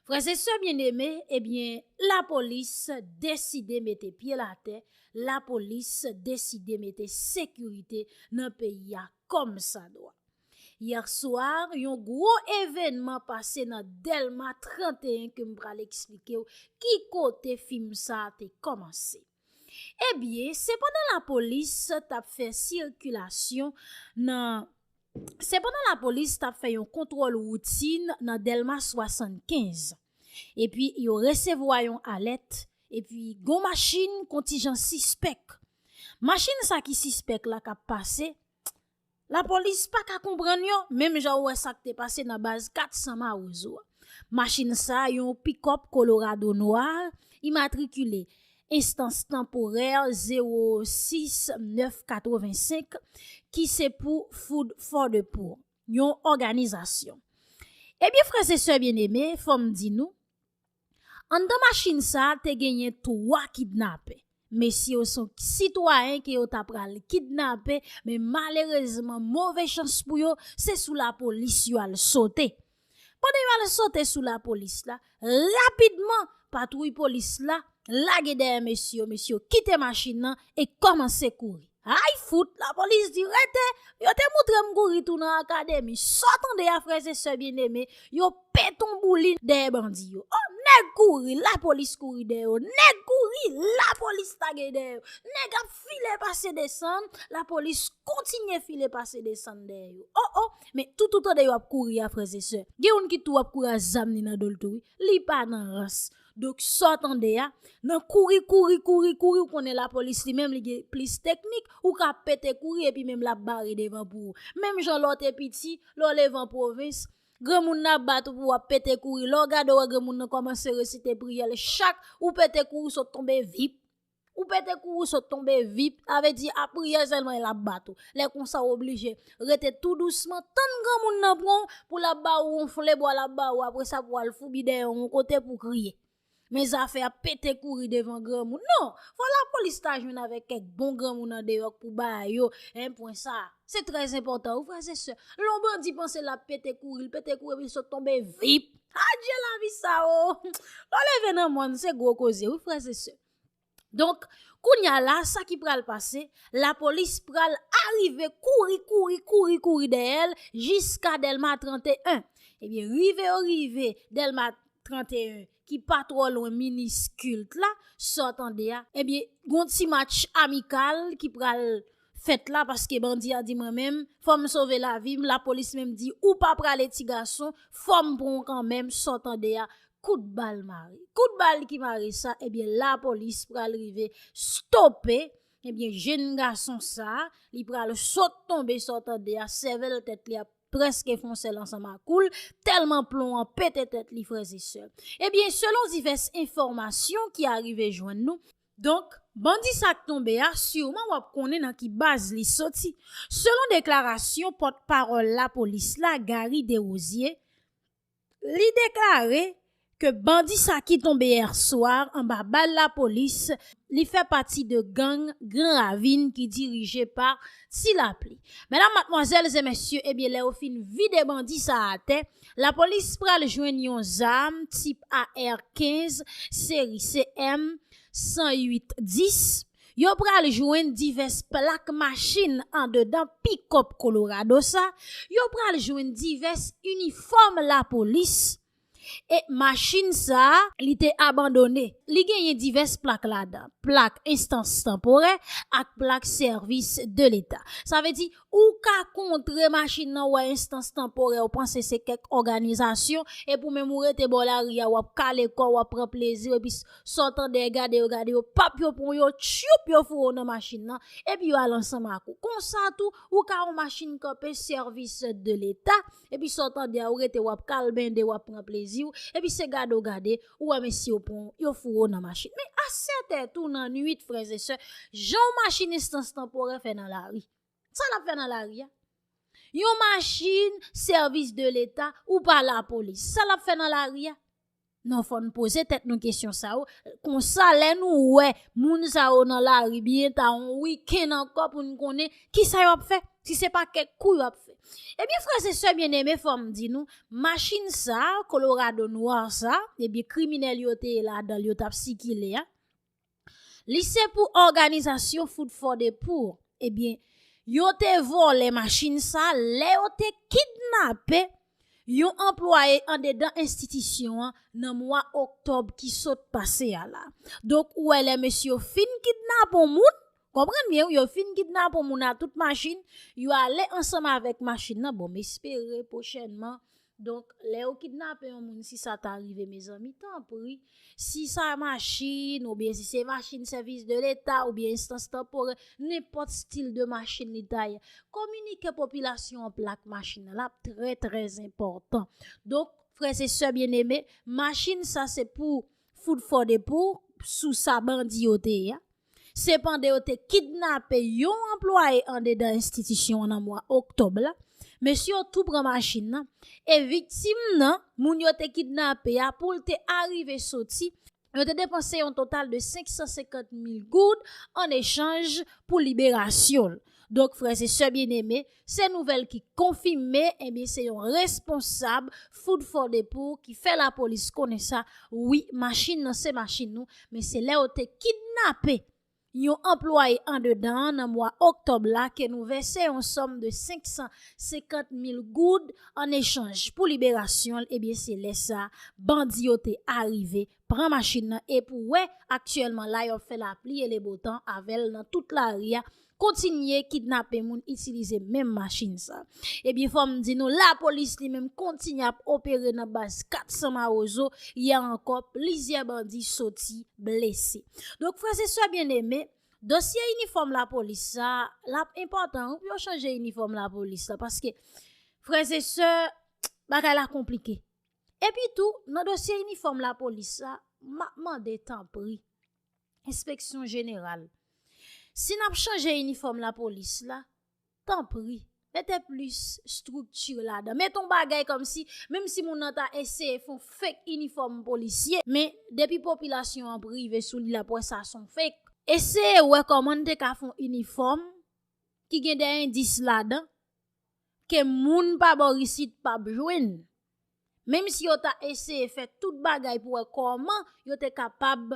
Frèz e sè byeneme ebyen la polis deside mete pyel atè la polis deside mete sekirite nan peyi a kòm sa dwa. Yè swa yon gwo evènman pase nan dèlma 31 kem pral eksplikew ki kote fim sa te kòmanse. Ebyen, se pandan lapolis t ap fè sikilasyon nan, se pandan lapolis t ap fè yon kontwòl woutin nan Dèlma 75, epi yo resevwa yon alèt, epi gon machin kontijan sispèk, machin sa ki sispèk la k ap pase, Lapolis pa ka konprann yo, menm jan ou wè sa k te pase nan baz 400 Mawozo a. Machin sa a, yon pikòp kolorado nwa, imatrikile Enstans Tanporè 06 9 85, ki se pou Food for the Poor, yon òganizasyon. Ebyen frè e sè byeneme, fò m di nou, Anndan machin sa te genyen 3 kidnapè. Mesye yo se sitwayen ke yo ta pral kidnape men malerezman move chans pou yo se sou lapolis yo al sote. Pandan yo al sote sou lapolis la, rapidman patwouy polis la lage dèyè mesye yo, mesye yo kite machin nan e kòmanse kouri. Ayy fout la polis di rete, yo te moutrem kouri tou nan akademi, saw tande a frè e sè byen eme, yo pèt on boulin dèyè bandi yo, oh nèg kouri la polis kouri dèyè yo, nèg kouri la polis lage dèyè yo, nèg ap file pase desann la polis kontinye file pase desann dèyè yo, oh oh men tout ou tande yo ap kouri a frè e sè gen youn ki tou ap kouri a zam li nan dol tou wi, li pa nan rans. Donk sa w tande a, nan kouri kouri kouri kouri ou konnen lapolis li menm li gen plis teknik, ou ka pete kouri epi menm l ap bare devan pou ou. Menm jan lè w te piti, lè w leve an pwovens, granmoun nan ap bat ou pou w ap pete kouri, lè w gade w wè granmoun nan kòmanse resite priyè l chak, ou pete kouri w sot tonbe vip Ou pète kou ou sot tonbe vip, sa vle di a priyè sèlman e lap bat ou. Lè konsa ou oblije rete tou dousman, tann granmoun nan pran ou pou lap ba ou yon flebwa lap ba ou aprè sa pou al foubi dèyè ou yon kote pou kriye. Men zafè ap pete kouri devan granmoun non, fò lapolis ta jwenn avèk kèk bon granmoun andeyò k pou ba yo 1 pwen sa. Se trè zenpòtan wi frè se sè. Lè yon bandi panse lap pete kouri, li pete kouri epi li sot tonbe vip. Adje lavi sa o! Lè w leve nan mòn se gwo koze wi frè se sè. Donk, kounya la a, sa ki pral pase, lapolis pral arive kouri, kouri, kouri, kouri dèyè l jiska Dèlma 31. Ebyen, rive yo rive Dèlma 31, ki pa twò lwen Minis kilt la, sa w tande a, ebyen, gon ti match amikal ki pral fèt la paske bandi a di mwen menm fòm sove lavim lapolis menm di ou pa prale ti gason fòm pran w kanmenm sa w tande a kout bal mare kout bal ki mare sa ebyen lapolis pral rive stope ebyen jenn gason sa li pral sot tonbe sa w tande a sèvèl tèt li ap prèske fon sèl ansanm ak koul tèlman plon an pete tèt li frèzesè ebyen selon divès enfòmasyon ki arive jwenn nou. Donk, bandi sa k tonbe a, siman w ap konnen nan ki baz li soti. Selon deklarasyon pòt pawòl lapolis la Garry Derosier, li deklare ke bandi sa ki tonbe yè swa anba bal lapolis, li fè pati de gang gran ravin ki dirije pa Ti Lapli. Medam, matmwazèl e mesye, ebyen lè yo fin vide bandi sa atè, Lapolis pral jwenn yon zam tip AR 15 seri CM 108 10, yo pral jwenn divès plak machin andedan pikòp Colorado sa, yo pral jwenn divès inifòm lapolis e machin sa li te abandone, li genyen divès plak ladan, plak enstans tanporè ak plak sèvis de leta. Sa vle di Ou ka kontre machin nan wè enstans tanporè ou panse se kèk òganizasyon epi ou menm ou rete bò lari a wap kale kòw wap pran pleziw epi sa w tande e gade yo gade yo pap yo pran w yo tchiuup yo foure w nan machin nan epi yo al ansanm ak ou konsa tou ou ka wè machin kanpe sèvis de leta epi sa w tande a ou rete wap kalbende wap pran pleziw epi se gade w gade Ou wè mesye yo pran w, yo foure w nan machin. Men a 7 è tou nan nwit frèzesè, jan w machinis sans tanporè fè nan lari. Sa l ap fè nan lari a? Yon machin sèvis de leta ou pa lapolis. Sa l ap fè nan lari a? Non fò n poze tèt nou kesyon sa yo. Kon sa lè nou wè moun sa yo nan lari byen ta yon wikenn ankò pou n konnen ki sa y ap fè. Si se pa kèk kou yo ap fè. Ebyen frèz e sè byeneme fòm di nou, machin sa, kolorado nwa sa, ebyen kriminèl yo te ladan yo tap si ki le a. Li se pou òganizasyon fout fò de pou, ebyen yo te vòlè machin sa, lè yo te kidnapè yon anplwaye an dedan enstitisyon an nan mwa oktòb ki sot pase a la. Donk ou wè lè mesye yo fin kidnapon moun, Konprann byen wi yo fin kidnap on moun a tout machin yo ale ansanm avèk machin nan bon m espere pwochènman donk lè yo kidnape yon moun si sa ta rive mezanmi tanpri si sa machin oubyen si se machin sèvis de leta oubyen enstans tanporè nenpòt stil de machin li ta ye kominike popilasyon an plak machin nan l ap trè trè zenpòtan donk frè se sè byeneme machin sa se pou fout fò de pou sou sa bandi yo te ye a. Se pandan yo te kidnape yon anplwaye andedan enstitisyon an nan mwa oktòb la, mesye yo tou pran machin nan e viktim nan, moun yo te kidnape a, pou l te arive soti, yo te depanse yon total de 550 mil goud an echanj pou liberasyon l. Donk frè e sè byeneme, Se nouvèl ki konfime ebyen se yon responsab food for the poor ki fè lapolis konnen sa wi machin nan se machin nou men se lè yo te kidnape yon anplwaye andedan an nan mwa oktòb la ke nou vèse yon sòm de 550 mil goud an echanj pou liberasyon l ebyen se lè sa bandi yo te arive Pran machin nan e pou wè, aktyèlman la yo ap fè lapli e le bo tan avèl nan tout lari a, kontinye kidnape moun itilize menm machin sa. Ebyen fòm di nou lapolis li menm kontinye ap opere nan baz 400 mawozo, yè ankò plizyè bandi soti blese. Donk frè se sè byen eme, dosye inifòm lapolis sa, lap enpòtan wi pou yo chanje inifòm lapolis la, paske frè se sè bagay la konplike. Epi tou, nan dosye inifòm lapolis la, m ap mande tanpri, enspeksyon jeneral, si n ap chanje inifòm lapolis la, tanpri, mete plis estrikti ladan. Mete yon bagay kòm si, menm si moun nan ta eseye fè yon fek inifòm polisye, men, depi popilasyon an ap rive sou li, l ap wè sa son fek. Eseye wè kòman n te ka fè yon inifòm ki gen de endis ladan. ke moun pa bò isit pa p jwenn, menm si yo ta eseye fè tout bagay pou wè kòman yo te kapab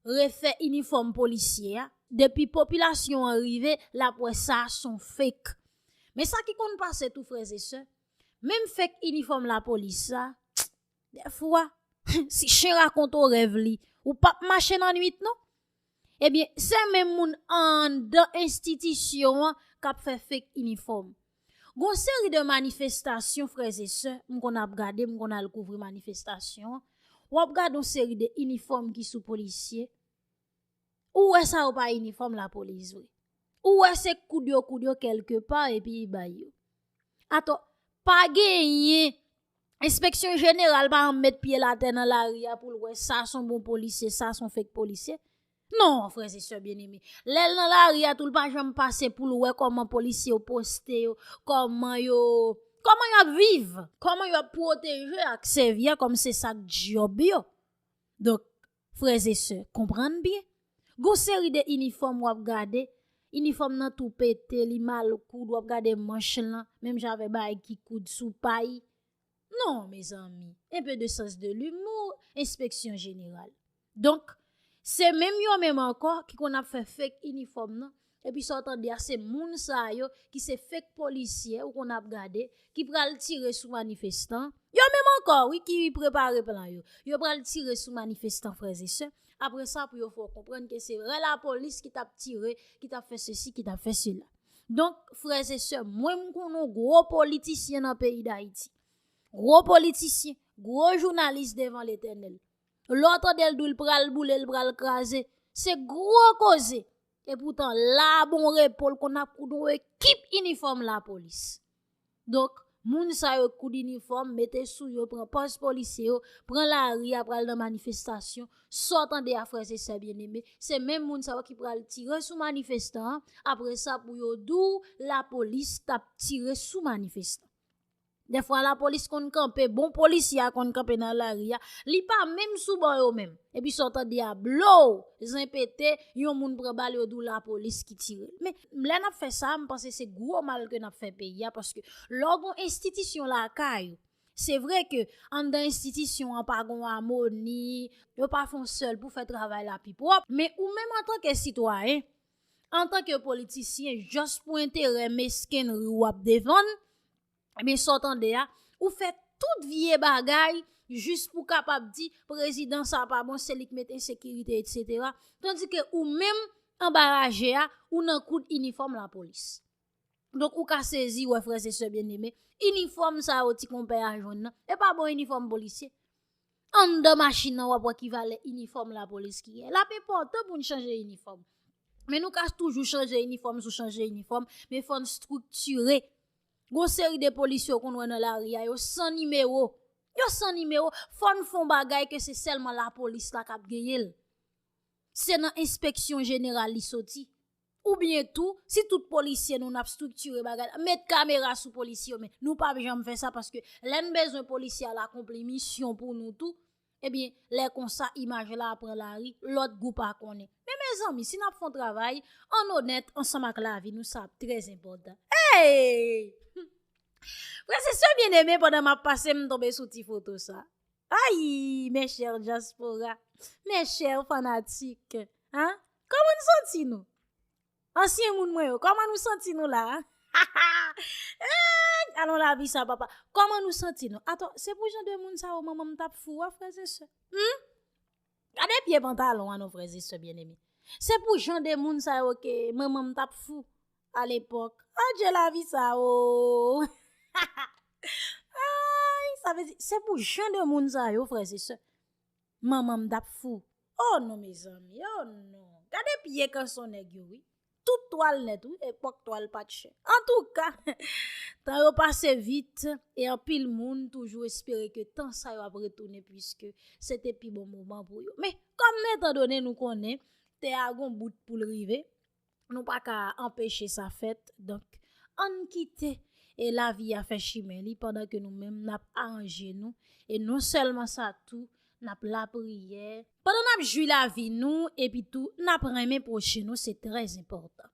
refè inifòm polisye a, depi popilasyon an rive l ap wè sa son fek. Men sa ki konn pase tou frè e sè, menm fek inifòm lapolis sa, Dèfwa, si chen rakonte w rèv li, ou p ap mache nan nuit non. Ebyen, se menm moun anndan enstitisyon an k ap fè fek inifòm. Gon seri de manifestasyon frèzesè, m konn ap gade, m konn al kouvri manifestasyon, w ap gade yon seri de inifòm ki sou polisye. Ou wè sa yo pa inifòm lapolis vre. Ou wè se koud yo koud yo kèlke pa epi yi bay yo. Atò, pa genyen, enspeksyon jeneral pa an met pye l atè nan lari a pou l wè sa son bon polisye, sa son fek polisye. Non, frè se sè byen eme. Lè l nan lari a tou l pa janm pase pou l wè kòman polisye yo poste yo, kòman yo, kòman yo ap viv, kòman yo ap pwoteje ak sèvi a kòm se sak djòb yo. Donk. Frèzesè, konprann byen, gon seri de inifòm wap gade, inifòm nan tou pete, li mal koud, wap gade manch lan, menm jan avè baay ki koud sou pay. Non, mezanmi, un peu de sens de l'humour, enspeksyon jeneral. Donk, se menm yo menm ankò ki konn ap fè fake inifòm nan, Epi sa w tande a se moun sa yo ki se fake polisye ou konn ap gade ki pral tire sou manifestan yo menm ankò wi ki prepare plan yo yo pral tire sou manifestan frè e sè apre sa pou yo fè w konprann ke se rè lapolis ki tap tire ki tap fè sesi ki tap fè sela donk frè e sè mwen m konn ou gwo politisyen nan peyi dayiti gwo politisyen gwo jounalis devan letènèl lè w tande l di w l pral boule l pral kraze se gwo koze E poutan la bon repo l konn ap koud yon ekip inifòm lapolis. Donk, moun sa yo k koud inifòm, mete sou yo, pran pòz polisye yo, pran lari a pral nan manifestasyon, sa w tande a frèz e sè byeneme, se menm moun sa yo ki pral tire sou manifestan, apre sa pou yo di w lapolis t ap tire sou manifestan. Dèfwa lapolis konn kanpe, bon polisye a konn kanpe nan lari a, li pa menm sou bò yo menm. Epi sa w tande a blow! Zen pete, yon moun pran bal yo di w lapolis ki tire l. Men, lè n ap fè sa, m panse se gwo mal ke n ap fè peyi a paske lè w gon enstitisyon lakay ou, se vre ke anndan enstitisyon an pa gon amoni, yo pa fon sèl pou fè travay la pi pwòp, men ou menm antanke sitwayen, antanke politisyen, jòs pou enterè meskenri w ap defann, Ebyen sa w tande a, ou fè tout vye bagay jis pou kapab di prezidan sa pa bon, se li k met ensekirite etsetera, tandike ou menm anba raje a, ou nan kout inifòm lapolis. Donk ou ka sezi wè frèzesè byeneme, inifòm sa yo ti konpè a jwenn nan, e pa bon inifòm polisye. Anndan machin nan wap wè ki valè inifòm lapolis ki ye. Lap enpòtan pou n chanje inifòm. Men nou ka toujou chanje inifòm sou chanje inifòm, men fò n striktire. Gon seri de polis yo konn wè nan lari a, yo san nimewo. Yo san nimewo, fò n fon bagay ke se sèlman lapolis la kap genyen l. Se nan enspeksyon jeneral li soti. Ou byen tou, si tout polisye nou nap striktire bagay la, met kamera sou polisye yo men, nou pa ap janm fè sa paske lè n bezwen polisye al akonpli misyon pou nou tou, e byen lè konsa imaj la ap pran lari, lòt gwoup pa konnen. Men mezanmi, si nap fon travay, ann onèt ansanm ak lavi nou sa ap trè zenpòtan. Eyy! Frè se sè byeneme pandan map pase m tonbe sou ti foto sa. Ayy mes chers diaspora, mes chers fanatiques ah Koman nou santi nou? Ansyen moun mwen yo, koman nou santi nou la? Eek alon lavi sa papa, koman nou santi nou? Aton, se pou jan de moun sa yo manman m tap fou a frères et sœurs? Humm! Gade pye pantalon an non frèz e sè byeneme se pou jan de moun sa yo ke manmanm tap fou a lepòk adje lavi sa ooh aayy sa vle di se pou jan de moun sa yo frèz e sè manmanm tap fou oh non mezanmi oh non gade pye kanson nèg yo wi Tout twal nèt wi epòk twal pat chè. Antouka! Tan yo pase vit e anpil moun toujou espere ke tan sa yo ap retounen puiske se te pi bon moman pou yo. Men, kòm nou etan done nou konnen tè a gon bout pou l rive, nou pa ka anpeche sa fèt. Donk, ann kite e lavi a fè chimen li pandan ke nou menm n ap aranje nou e non sèlman sa tou n ap lapriyè. Pandan n ap jwi lavi nou epi tou n ap renmen pwochen nou se trè enpòtan.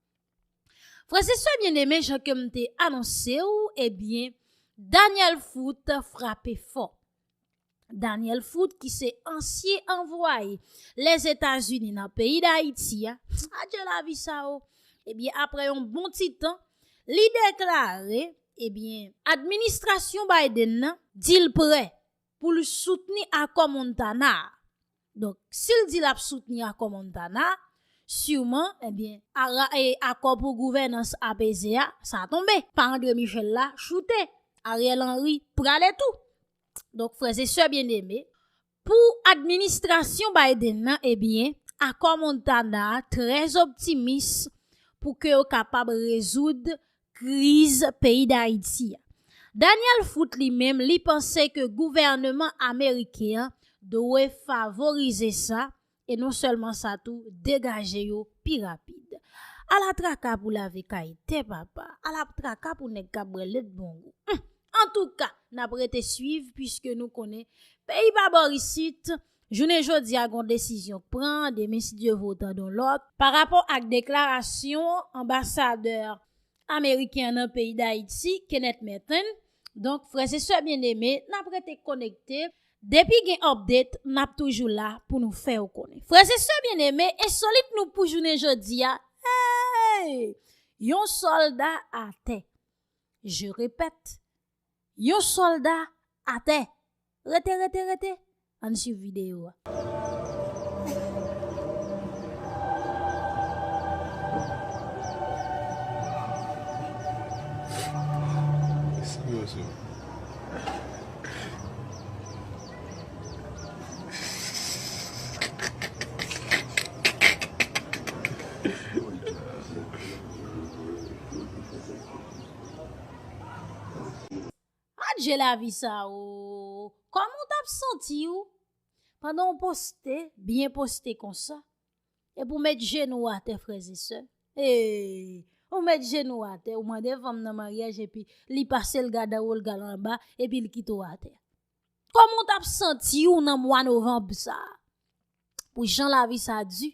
Frè e sè byeneme jan ke m te anonse ou ebyen Daniel Foot frape fò. Daniel Foot ki se ansye anvwaye Lèzetazini nan peyi Dayiti a, adje lavi sa o, ebyen aprè yon bon ti tan li deklare ebyen administrasyon Biden nan di l prè pou l soutni akò Montana a. Donk, si l di l ap soutni akò Montana a, siman, ebyen, ara e akò pou gouvènans apeze a, sa tonbe. Pa André Michel la choute, Ariel Henry prale tou. Donk, frè e sè byeneme, pou administrasyon Biden nan, ebyen, akò Montana a trè zoptimis pou ke yo kapab rezoud kriz peyi Dayiti a. Daniel Foot li menm li panse ke gouvèneman ameriken an dwe favorize sa e non sèlman sa tou degaje yo pi rapid. Ala traka pou lave kay tè papa, ala traka pou nèg kap bwè lèt bon gou. Humm! Antouka, nap rete swiv pwiske nou konnen peyi pa bor isit. Jounen jodi a gon desizyon k pran, demen si Dye vle w tande yon lòt, pa rapò ak deklarasyon anbasadè ameriken an nan peyi Dayiti, Kenneth Merten, donk frè e sè byeneme n ap rete konekte, depi gen update n ap toujou la pou nou fè w konnen. Frè e sè byeneme, ensolit nou pou jounen jodi a, eeyy! Yon sòlda atè. Je répète, Yon solda atè! Rete rete rete! Ann swiv videyo a. Adje lavi sa ooh Kòman w tap santi w pandan w poste byen poste konsa Epi w met jenou w atè frèzesè eeh Ou met jenou w atè ou mande fanm nan maryaj epi li pase l gada wo l gal anba epi l kite w atè Kòman w tap santi w nan mwa novanb sa Pou jan lavi sa di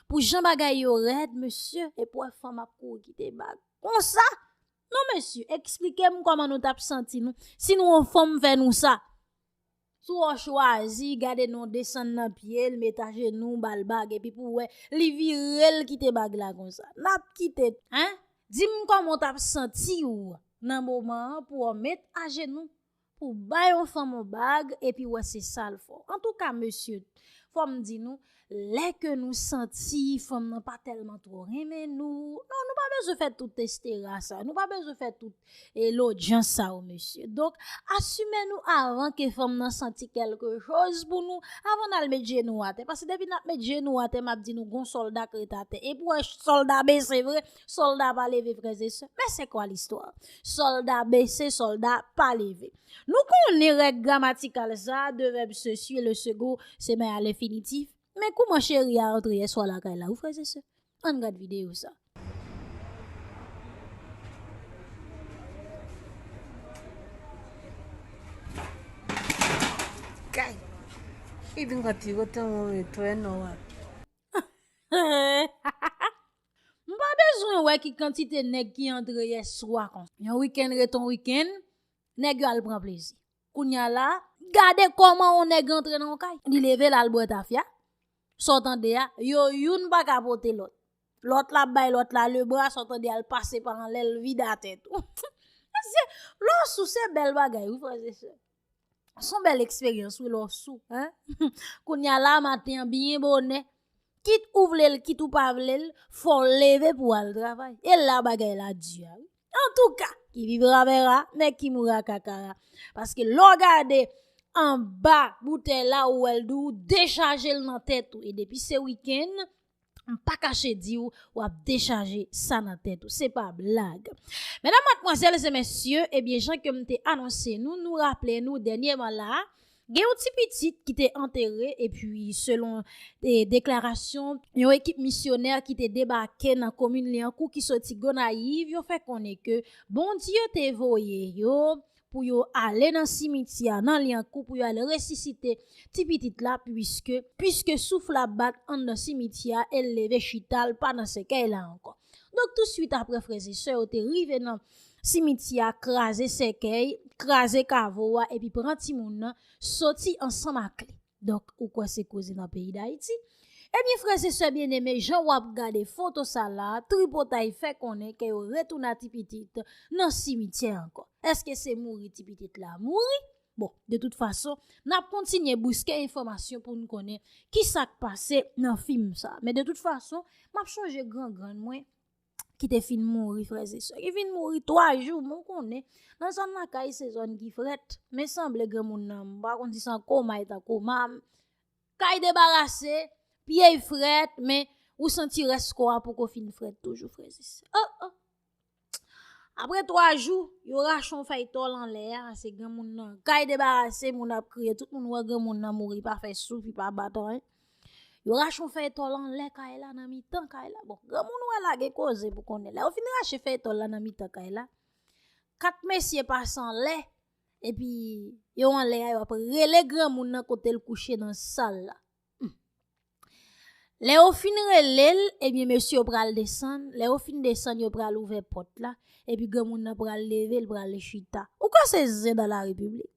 Pou jan bagay yo rèd mesye epi w wè fanm ap kouri kite bag konsa Non mesye, eksplike m kòman nou tap santi nou si nou yon fanm fè nou sa. Si w chwazi gade non desann nan pye l, met ajenou, ba l bag epi pou w wè li vire l kite bag la konsa. Nap kite tou. Hein? Di m kòman w tap santi w nan moman an pou w met ajenou. Pou bay yon fanm yon bag epi wè se sal fò. Antouka mesye, fòm di nou, lè ke nou santi fanm nan pa tèlman twò renmen nou, non nou pa bezwen fè tout estera sa, nou pa bezwen fè tout e lodjans sa yo mesye. Donk, asime nou avan ke fanm nan santi kèlke choz pou nou, avan nal met je nou atè. Pase depi nap met je nou atè, map di nou gon solda k ret atè. E pou wè solda bese vre. Solda pa leve frères et sœurs mais c'est quoi l'histoire Solda bese solda pa leve Nou konnen règ gramatikal sa a de vèb se suit le second se men a lenfinitif Men kouman cheri a antre yèswa lakay la wi frères et sœurs Ann gad videyo sa a. Kay! Li di m konn ti wote mwen retounen nan wap. M pa bezwen wè ki kantite nèg ki antre yè swa konsa. Yon wikenn ret yon wikenn, nèg yo al pran plezi. Kounye a la, gade kòman yon nèg antre nan yon kay. Li leve l al bwè tafya, sa w tande a, yo youn pa ka pote lòt. Lòt la ap bay lòt la lebra, sa w tande a, l pase pa anlè, l vide atè tou. Mesye, lè w sou se bèl bagay wi frè e sè. Son bèl eksperyans wi lè w sou. Kounya la maten an byen bonè, kit ou vle l, kit ou pa vle l, fò w leve pou w al travay. E la bagay la di a wi. Antouka, ki vivra vera, men ki moura kakara. Paske lè w gade anba boutèy la ou wè l di w dechaje l nan tèt ou. E depi se wikenn. M pa kache di w, w ap dechaje sa nan tèt ou. Se pa blag. Medam, matmwazèl e mesye, ebyen jan ke m te anonse nou, nou raple nou dènyeman la a, gen yon ti pitit ki te antere epi selon deklarasyon yon ekip misyonè ki te debake nan komin Lyankou ki soti Gonayiv, yo fè konnen ke Bondye te voye yo pou yo ale nan simityè a nan Lyankou pou yo al resisite ti pitit la puiske puiske souf la bat anndan simityè a e l leve chita l pa nan sèkèy la ankò. Donk tousuit aprè frè e sè yo te rive nan simityè a kraze sèkèy, kraze kavo a epi pran timoun nan soti ansanm ak li. Donk ou kwè se koze nan peyi Dayiti? Ebyen frè e sè byeneme jan wap gade foto sa la tripotay fè konnen ke yo retouna ti pitit nan simityè ankò. Eske se mouri ti pitit la mouri? Bon de tout fason nap kontinye bouske enfòmasyon poun konnen kisak pase nan fim sa. Men de tout fason map chonje gran grann mwen. ki te fin mouri frères et sœurs ki vin mouri 3 jours men w konnen nan zòn lakay se zòn ki frèt men sanble granmoun nan m pa konn si se an koma li ta koma kay debarase pye y frèt men ou santi rès kò a poko fin frèt toujou frères et sœurs oh oh aprè 3 jou yo rache yon fèy tòl anlè a se granmoun nan kay debarase moun ap kriye tout moun wè granmoun nan mouri pa fè souf li pa bat anyen. Yo rache yon fèy tòl anlè kay la nan mitan kay la. Bon, gran moun wè la gen koze pou konnen. Lè yo fin rache fèy tòl la nan mitan kay la, kat mesye pase anlè, epi yo anlè a yo ap rele gran moun nan kote l kouche nan sal la. Lè yo fin rele l, ebyen mesye yo pral desann, lè yo fin desann yo pral ouvè pòt la, epi gran moun nan pral leve l pral chita. Ou kwè se zen dan la repiblik?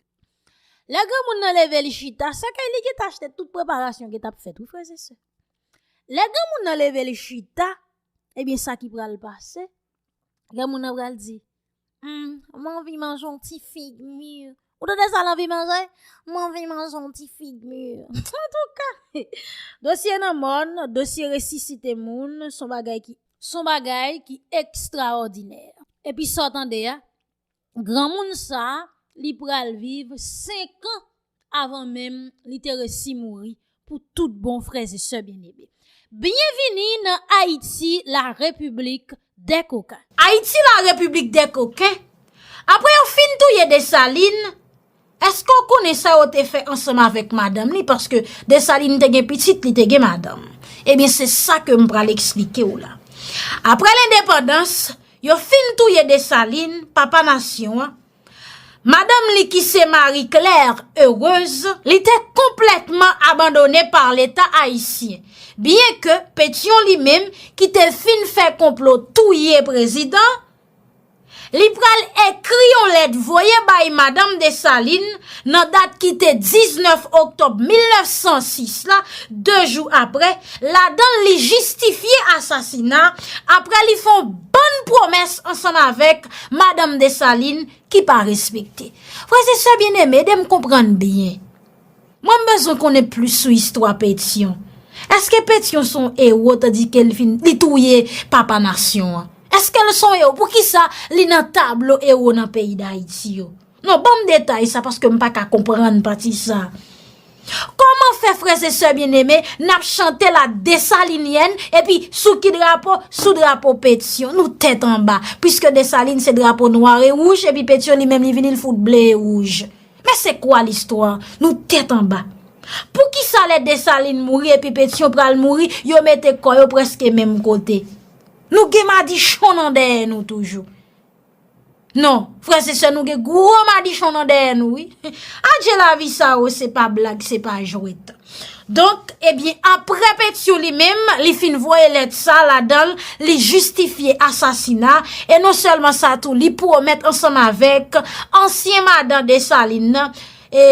Lè granmoun nan leve li chita, se ke li gen ta achte tout preparasyon ki tap fèt wi frèz e sè. Lè granmoun nan leve li chita, ebyen sa ki pral pase, granmoun nan pral di, humm, m anvi manje yon ti fig mûr. Ou tande sa l anvi manje? M anvi manje yon ti fig mûr. Antouka, dosye nan mòn, dosye resisite moun, son bagay ki, son bagay ki ekstraòdinè. Epi sa w tande a, Granmoun sa a, li pral viv senkan avan menm li te resi mouri pou tout bon frè e sè byeneme. Byen vini nan Ayiti la repiblik dè koken. Ayiti la repiblik dè koken, apre yo fin touye Desalin, Eske w konnen sa yo te fè ansanm avèk madanm li paske Desalin te gen pitit li te gen madanm? Ebyen se sa ke m pral eksplike w la. Aprè lendepandans, yo fin touye Desalin, papa nasyon an, madanm li ki se Marie Claire Heureuse, li te konplètman abandone pa leta ayisyen, byen ke Petyon li menm ki te fin fè konplo touye prezidan, Li pral ekri yon lèt voye bay Madanm Desalin nan dat ki te 19 oktòb 1906 la, 2 jou apre, ladan l li jistifye asasina, apre li fè yon bann pwomès ansanm avèk Madanm Desalin ki pa respekte. Frè e sè byeneme, ede m konprann byen. Mwen m bezwen konnen plis sou istwa Petion. Eske Petion son ewo tandike li fin li touye papa nasyon an? Eske l son ewo? Poukisa li nan tablo ewo nan peyi Dayiti yo? Non ban m detay sa paske m pa ka konprann pati sa. Koman fè frèzesè byeneme n ap chante la Desalinyèn epi sou ki drapo? Sou drapo Petion. Nou tèt anba. Piske Desalin se drapo nwa e wouj epi Petion li menm li vini l fout ble e wouj. Men se kwa listwa, nou tèt anba. Poukisa lè Desalin mouri epi Petyon pral mouri, yo mete kò yo preske menm kote? Nou gen madichon nan dèyè nou toujou. Non, frèz e sè nou gen gwo madichon nan dèyè nou wi. Adje lavi sa o, se pa blag, se pa jwèt. Donk, ebyen, apre Petion li menm, li fin voye lèt sa ladan l, li jistifye asasina, e non sèlman sa tou, li pwomèt ansanm avèk ansyen madan Desalin nan, e,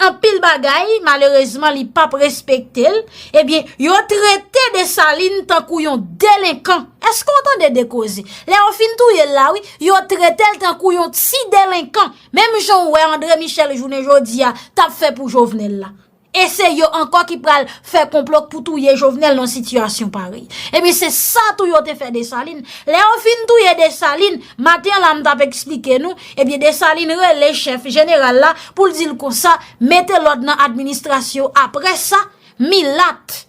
anpil bagay, malerezman li pa p respekte l, ebyen, yo trete Desalin tankou yon delenkan. Èske w tande de koze? Lè yo fin touye l la wi, yo trete l tankou yon ti delenkan. Menm jan ou wè Andre Michel jounen jodi a tap fè pou Jovenel la. E se yo ankò ki pral fè konplo pou touye Jovenel nan sitiyasyon parèy. Ebyen se sa tou yo te fè Desalin. Lè yo fin touye Desalin, maten la m tap eksplike nou, ebyen Desalin rele chèf jeneral la pou l di l konsa, mete lòd nan administrasyon aprè sa, milat.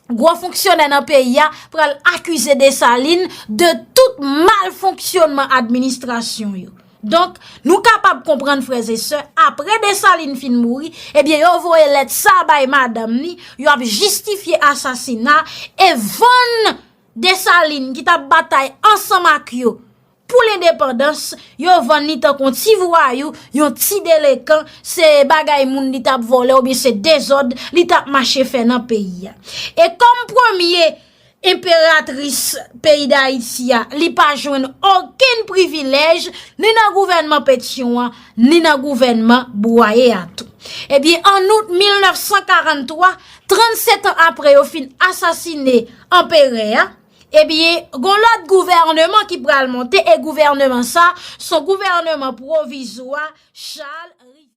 gwo fonksyonè nan peyi a pral akize Desalin de tout mal fonksyonman administrasyon yo. Donk, nou kapab konprann frèz e sè, apre Desalin fin mouri, ebyen yo voye lèt sa bay madanm ni, yo ap jistifye asasina, e vann Desalin ki tap batay ansanm ak yo, Pou lendepandans, yo vann li tankou yon ti vwayou, yon ti delekan, se bagay moun li tap vòlè ou byen se dezòd li tap mache fè nan peyi a. E kòm premye enperatris peyi Dayiti a, li pa jwenn okenn privilèj ni nan gouvènman Petyon an, ni nan gouvènman Bwaye a tou. E byen an out 1943, 37 an apre yo fin asasine anperè a, Epi gon lòt gouvèneman ki pral monte e gouvèneman sa son gouvèneman pwovizwa Charles Rivière.